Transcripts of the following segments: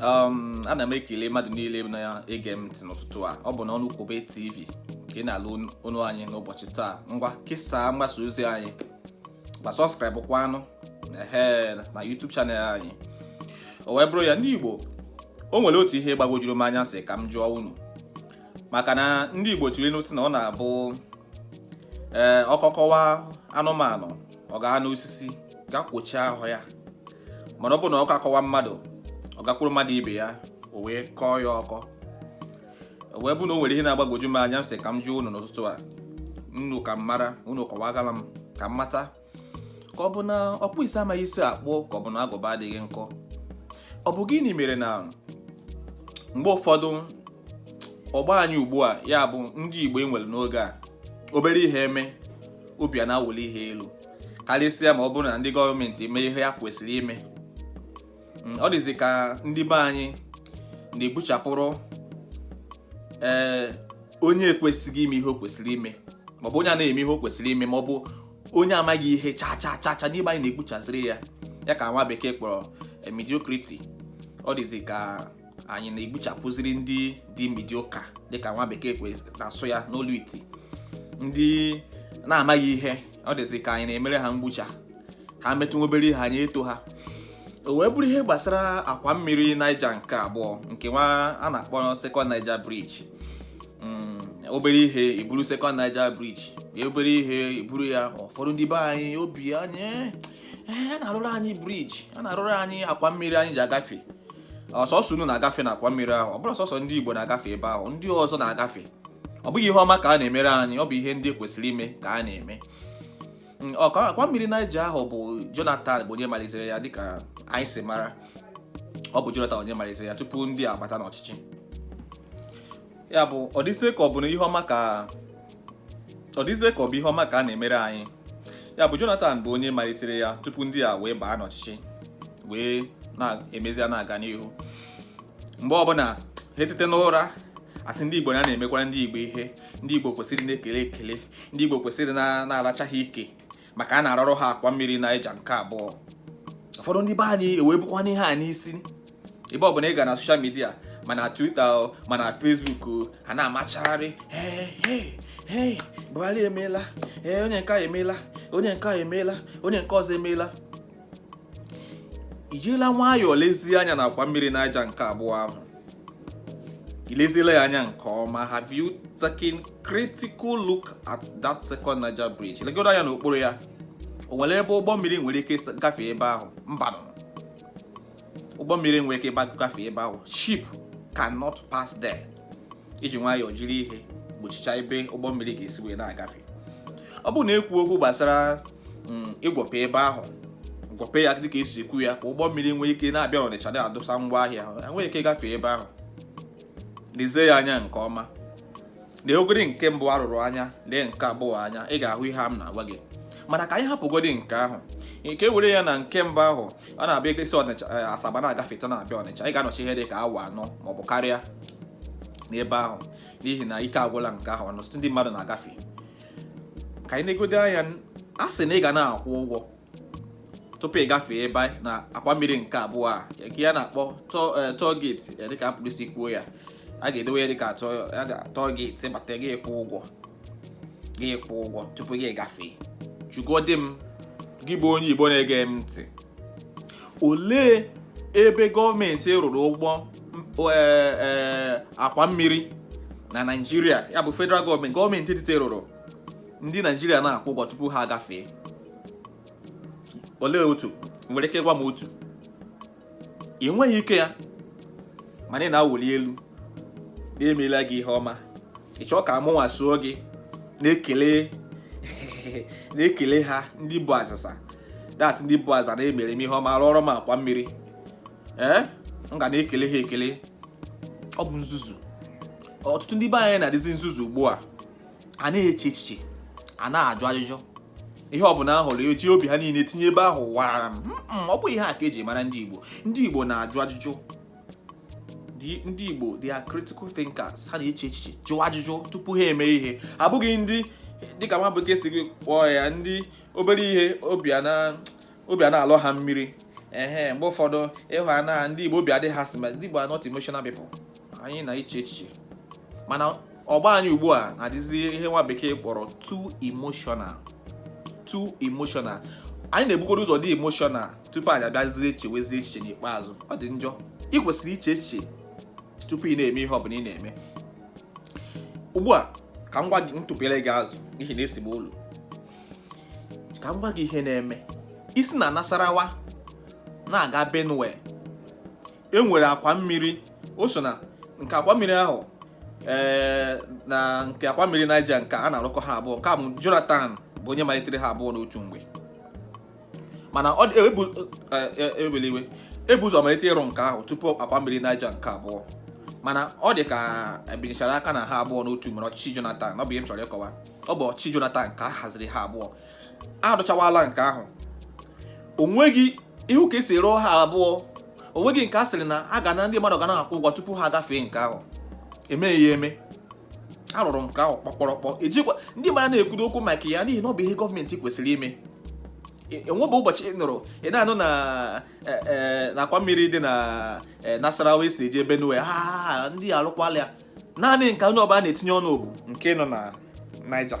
um, ana m ekele mmadụ niile na-ege m ntị n'ụtụtụ a ọ bụ na Ọnụ Kwube TV ka ị na-anụ olu anyị n'ụbọchị taa ngwa kesaa mgbasa ozi anyị ma subscribe kwanụ na YouTube channel anyị o wee bụrụ ya ndị Igbo o nwere otu ihe gbagwojuru m anya sị ka m jụọ unu maka na ndị Igbo tụrụ inu sị na ọ na-abụ ee eh, ọkọ kọwa anụmanụ ọ gaa n'osisi ga kwochie ahụ ya mana ọ bụ na ọkọ akọwa mmadụ ọ gakwuru mmadụ ibe ya o wee kọọ ya ọkọ o wee bụ na o nwere ihe na-agbagwoju m anya m sị ka m jụọ unu n'ụtụtụ a unu ka m mara unu kọwagala m ka m mata ka ọ bụ na ọkpụ isi amaghị isi akpụ ka ọ bụ na agụba adịghị nkọ ọ bụ gịnị mere na mgbe ụfọdụ ọgbọ anyị ugbu a ya bụ ndị Igbo e nwere n'oge a obere ihe eme obi a na-awụli ha elu karịsịa ma ọ bụrụ na ndị gọọmenti eme ihe ya kwesịrị ime mm, ọ dịzi ka ndị be anyị na-egbuchapụrụ ee eh, onye ekwesịghị ime ihe o kwesịrị ime maọbụ onye anaghị eme ihe o kwesịrị ime maọbụ onye amaghị ihe cha cha cha cha n'ime anyị na-egbuchaziri ya ya ka nwa bekee kpọrọ eh, mediocrity ọ dịzi ka anyị na-egbuchapụziri ndị dị mediocre dịka nwa bekee kwe na-asụ ya n'olu iti ndị na-amaghị ihe ọ dịzi ka anyị na-emere ha mgbucha ha metụ nwa obere ihe anyị eto ha o wee bụrụ ihe gbasara akwa mmiri Niger nke abụọ nke nwa a na-akpọ Second Niger Bridge mm, obere ihe e buru Second Niger Bridge obere ihe e buru ya ụfọdụ ndị be anyị obi anyị eh, eh, a na-arụrụ anyị bridge a na-arụrụ anyị akwa mmiri anyị ji agafe ọ sọsọ unu na-agafe n'akwa mmiri ahụ ọ bụrụ sọsọ ndị Igbo na-agafe ebe ahụ ndị ọzọ na-agafe ọ bụghị ihe ọma ka a na-emere anyị ọ bụ ihe ndị kwesịrị ime ka a na-eme mm, akwa mmiri Niger ahụ bụ Jonathan bụ onye malitere ya dịka anyị si mara ọ bụ Jonathan onye malitere ya tupu ndị a abata n'ọchịchị ya bụ ọ dịzie ka ọ bụ na ihe ọma ka ọ dịzie ka ọ bụ ihe ọma ka a na-emere anyị ya bụ Jonathan bụ onye malitere ya tupu ndị a wee baa n'ọchịchị wee na-emezi na-aga n'ihu mgbe ọbụla ha etete n'ụra a sị ndị Igbo na a na-emekwara ndị Igbo ihe ndị Igbo kwesịrị na-ekele ekele ndị Igbo kwesịrị na-aracha ha ike maka a na-arụrụ ha akwa mmiri Niger nke abụọ ụfọdụ ndị be anyị ewee bukwanụ ihe a n'isi ebe ọ bụla ị ga na social media ma na Twitter ma na Facebook ha na-amachagharị Buhari emeela ee onye nke a emeela onye nke a emeela onye nke ọzọ emeela i jirila nwayọọ lezie anya na akwa mmiri Niger nke abụọ ahụ i lezila ya anya nke ọma have you taken critical look at that second Niger bridge legodo anya n'okpuru ya o nwere ebe ụgbọ mmiri nwere ike gafee ebe ahụ mba ụgbọ mmiri enweghị ike gafee ebe ahụ ship cannot pass there eji nwayọọ jiri ihe gbochichaa ebe ụgbọ mmiri ga-esi wee na-agafe ọ bụrụ na ekwu okwu gbasara mm, igwupe ebe ahụ gwupe ya dịka esi ekwu ya ka ụgbọ mmiri nwee ike na-abịa ọnịcha na-adọsa ngwa ahịa ahụ enwee ike gafee ebe ahụ lezie ya anya nke ọma lee ogiri nke mbụ arụrụ anya lee nke abụọ anya ị ga-ahụ ihe a m na-agwa gị mana ka anyị hapụgodi nke ahụ ka e were ya na nke mbụ ahụ a na-abịa ekesi ọnịcha eh, Asaba na-agafeta na-abịa ọnịcha ị ga-anọcha ihe dị ka awa anọ maọbụ karịa n'ebe ahụ n'ihi na ike agwụla nke ahụ ọnụ ndị mmadụ na-agafe ka anyị negodo anya a sị na ị ga na-akwụ ụgwọ tupu ị gafee ebe a n'akwa mmiri nke abụọ a nke a na-akpọ toll eh, gate ya dịka a pụrụ isi kwuo ya a ga-edowe ya dịka toll gate ị bata gị ịkwụ ụgwọ gị ịkwụ ụgwọ tupu gị agafee jụgodi m gị bụ onye Igbo na-ege m ntị olee ebe gọọmenti rụrụ ụgbọ e, e, akwa mmiri na naijiria ya bụ federal gọọmenti gọọmenti etiti rụrụ ndị naijiria na-akwụ ụgwọ tupu ha agafee olee otu i nwere ike ịgwa m otu i nweghị ike ya mana ị na-awụli elu emela gị ihe ọma ị chọọ ka mụnwa soo gị na-ekele na-ekele ha ndị bụ azịza that's ndị bụ aza na-emere m ihe ọma rụọrọ m akwa mmiri ee eh? m ga na-ekele ha ekele ọ bụ nzuzu ọtụtụ ndị be anyị na-adịzi nzuzu ugbu a a na-eche echiche a na-ajụ ajụjụ ihe ọ bụla ahụrụ eji obi ha niile tinye ebe ahụ wararam ọ bụ ihe a ka eji mara ndị Igbo ndị Igbo na-ajụ ajụjụ ndị Igbo they are critical thinkers ha na-eche echiche jụọ ajụjụ tupu ha eme ihe abụghị ndị dịka nwa bekee si kpọọ ya ndị obere ihe obi ana-alọ ha mmiri ehe mgbe ụfọdụ ị hụ na ndị Igbo obi adịghị ha sị ma ndị Igbo are not emotional people anyị na-eche echiche mana ọgbọ anyị ugbu a na-adịzi ihe nwa bekee kpọrọ too emotional too emotional anyị na-ebugodo ụzọ dị emotional tupu anyị abịazie chewezie echiche n'ikpeazụ ọ dị njọ ị kwesịrị iche echiche tupu ị na-eme ihe ọ bụla ị na-eme ugbu a ka m gwa gị ntụpere gị azụ n'ihi na esi m ụlọ ka m gwa gị ihe na-eme i si na Nasarawa na-aga Benue e nwere akwa mmiri o so na nke akwa mmiri ahụ ee eh, na nke akwa mmiri Niger nke a na-arụkọ ha abụọ nke a bụ Jonathan bụ onye malitere ha abụọ n'otu mgbe mana ọ dị- ebu eh, eh, ewela iwe ebu ụzọ malite ịrụ nke ahụ tupu akwa mmiri Niger nke abụọ mana ọ dị ka ebinyechara aka na ha abụọ n'otu mere ọchịchị Jonathan ọ bụ ihe m chọrọ ịkọwa ọ bụ ọchịchị Jonathan ka a haziri ha abụọ a rụchawala nke ahụ o nweghị ịhụ ka esi rụọ ha abụọ o nweghị nke a sịrị na a ga na ndị mmadụ ga na-akwụ ụgwọ tupu ha gafee nke ahụ emeghị ya eme arụrụ nke ahụ kpọkpọrọkpọ ejikwa ndị mmadụ na-ekwudo okwu maka ya n'ihi na ọ bụ ihe gọọmenti kwesịrị ime e, enwebu ụbọchị ị nụrụ ị na-anụ na e, e, akwa mmiri dị na Nasarawa esi eje Benue and arụkwala ya naanị nke onye ọbụla na-etinye ọnụ bụ nke nọ na Niger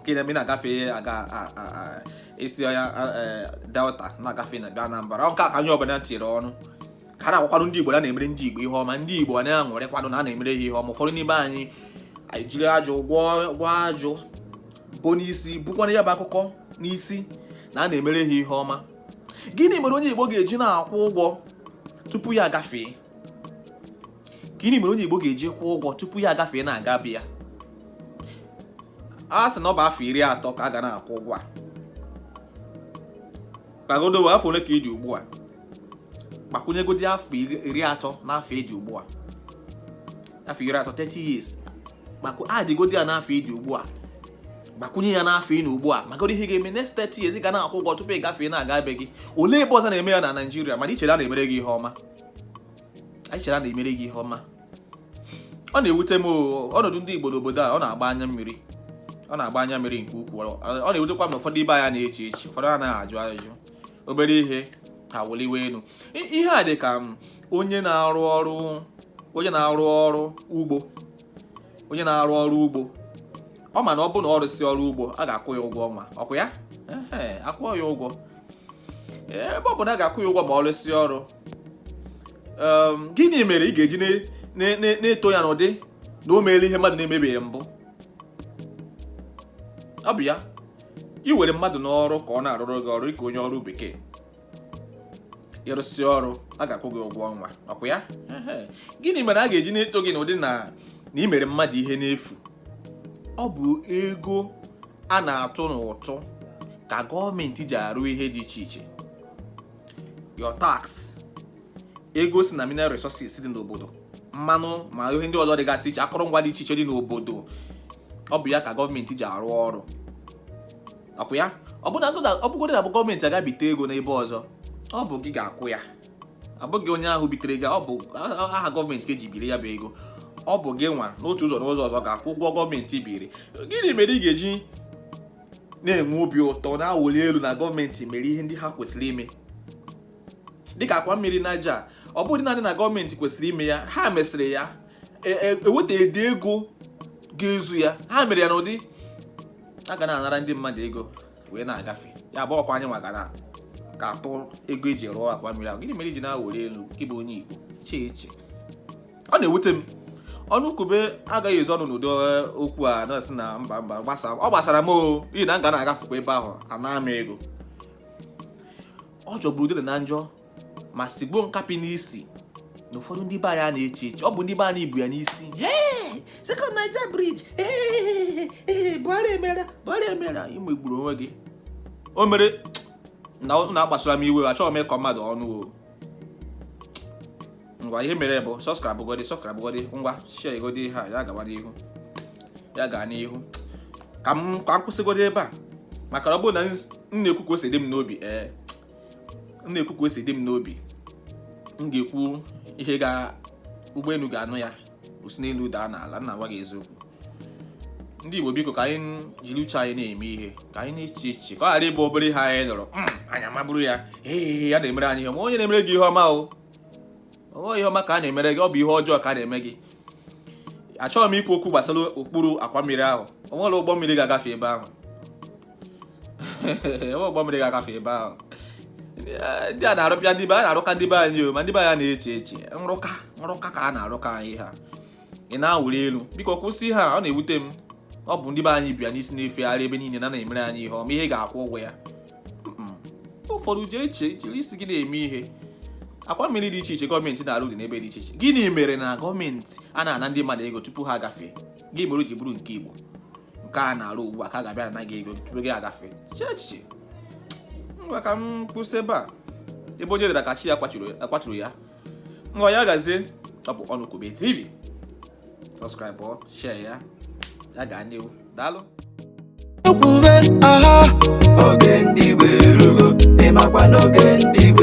ka ị na-eme ị na-agafe ihe aga a- a- a- isi ọya a- e, delta na-agafe na-abịa anambra ọ nke a ka onye ọbụla tiri ọnụ ka a na-agwakwanụ ndị igbo na a na-emere ndị igbo ihe ọma ndị igbo na-aṅụrịkwanụ na a na-emere ha ihe ọma ụfọdụ n'ime anyị anyị jiri ajụ gwọọ gwọọ ajụ bu n'isi bukwana ya bụ akụkọ n'isi na a na-emere ha ihe ọma gịnị mere onye igbo ga-eji na-akwụ ụgwọ tupu ya agafee gịnị mere onye Igbo ga-eji kwụọ ụgwọ tupu ya agafee na-aga be ya a sị na ọ bụ afọ iri atọ ka a ga na-akwụ ụgwọ a kpagodowe afọ ole ka ị dị ugbu a gbakwunyegodi afọ iri atọ n'afọ ị dị ugbu a afọ iri atọ 30 years maka add godi ya n'afọ ị dị ugbu a gbakwunye ya n'afọ ị nọ ugbu a maka ihe ga-eme next 30 years ị ga na-akwụ ụgwọ tupu ị gafee na-aga be gị olee ebe ọzọ a na-eme ya na Naịjirịa mana i chere a na-emere gị ihe ọma ị chere a na-emere gị ihe ọma ọ na-ewute m ọnọdụ ndị Igbo n'obodo a ọ na-agba anya mmiri ọ na-agba anya mmiri nke ukwuu ọ na-ewutekwa m na ụfọdụ ibe anyị anaghị eche echiche ụfọdụ anaghị ajụ ajụjụ obere ihe ha wụliwe elu ihe a dị ka onye na-arụ ọrụ onye na-arụ ọrụ ugbo onye na-arụ ọrụ ugbo ọ ma na ọ bụ na ọ rụsị ọrụ ugbo a ga-akwụ ya ụgwọ ọnwa ọkwa ya ehe a kwụọ ya ụgwọ ebe ọ bụ na a ga-akwụ ya ụgwọ ma ọ rụsị ọrụ ehm, gịnị mere ị ga-eji na-eto ya n'ụdị na o meela ihe mmadụ na-emebeghị mbụ ọ bụ ya ị were mmadụ n'ọrụ ka ọ na-arụrụ gị ọrụ dịka onye ọrụ bekee ị rụsị ọrụ a ga-akwụ gị ụgwọ ọnwa ọkwa ya gịnị mere a ga-eji na-eto gị n'ụdị na na ị mere mmadụ ihe n'efu ọ bụ ego a na-atụ n'ụtụ ka gọọmenti ji arụ ihe dị iche iche your tax ego si na mineral resources dị n'obodo mmanụ ma ihe ndị ọzọ dịgasị iche akụrụngwa dị iche iche dị n'obodo ọ bụ ya ka gọọmenti ji arụ ọrụ akwụ ya ọ bụgodị na ọ bụ gọọmenti ga-ebite ego n'ebe ọzọ ọ bụ gị ga-akwụ ya ọ bụghị onye ahụ bitere gị ọ bụ aha gọọmenti ka e ji biri ya bụ ego ọ bụ gị nwa n'otu ụzọ n'ụzọ ọzọ ga-akwụ ụgwọ gọọmenti biri gịnị mere ị ga-eji na-enwe obi ụtọ na-awụli elu na gọọmenti mere ihe ndị ha kwesịrị ime dịka akwa mmiri Naija ọ bụghị naanị na gọọmenti kwesịrị ime ya ha mesịrị ya eweta e, e ede ego ga-ezu ya ha mere ya n'ụdị a ga na-anara ndị mmadụ ego wee na-agafe ya bụ akwa anyị nwa ga na-atụ ego e ji rụọ akwa mmiri ahụ gịnị mere i ji na-awụli elu ị bụ onye Igbo chee eche ọ na-ewute m ọnụ kwube agaghị ezo ọnụ n'ụdị eh, okwu a na-asị na mba mba gbasa ọ gbasara m o n'ihi na m ga na-agafekwa ebe ahụ a naa m ego ọ jọgburu udele na njọ ma sigbuo nkapị n'isi na ụfọdụ ndị be anyị anaghị eche echiche ọ bụ ndị be anyị bu ya n'isi Second Niger Bridge Buhari mere Buhari mere i megburu onwe gị o mere na ọ na-akpasuru m iwe achọghị m ịkọ mmadụ ọnụ o ngwa ihe mere bụ subscribe godi subscribe godi ngwa share godi ya ya gawa n'ihu ya gaa n'ihu ka m kwụsịgodi ebe a maka ọ bụrụ na m na-ekwu ka o si dị m n'obi ee m na-ekwu ka o si dị m n'obi m ga-ekwu ihe ga ụgbọelu ga-anụ ya o si n'elu daa n'ala m na-agwa gị eziokwu ndị Igbo biko ka anyị jiri uche anyị na-eme ihe ka anyị na-eche echiche ka ọ ghara ịbụ obere ihe anyị nụrụ hmm, anyị amaburu ya ee a na-emere anyị ihe ma onye na-emere gị ihe ọma ọ bụ ihe ọma ka a na-emere gị ọ bụ ihe ọjọọ ka a na-eme gị achọghị m ikwu okwu gbasara okpuru akwa mmiri ahụ o nwere ụgbọ mmiri ga-agafe ebe ahụ ebe ụgbọ mmiri ga-agafe ebe ahụ ndị a na-arụpịa ndị be a na-arụka ndị be anyị o ma ndị be anyị na-eche eche nrụka nrụka ka a na-arụka anyị ha ị na-awụli elu biko kwụsị ya ọ na-ewute m ọ bụ ndị be anyị bu ya n'isi na-efegharị ebe niile na a na-emere anyị ihe ọma ihe ị ga-akwụ ụgwọ ya ụfọdụ jee eche jiri isi gị na-eme ihe akwa mmiri dị iche iche gọọmenti na-arụ dị n'ebe dị iche iche gịnị mere na gọọmenti anaghị ana ndị mmadụ ego tupu ha agafee gịnị mere o ji bụrụ nke Igbo nke a na-arụ ugbu a ka a ga-abịa naa gị ego tupu gị agafe chee echiche ngwa ka m kwụsị ebe a ebe onye dara ka chi ya kwaturu ya ngwa ya gazie ọ bụ ọnụ kwube TV subscribe o share ya ya gaa n'ihu daalụ kwube aha oge ndị Igbo erugo ị makwa na oge ndị Igbo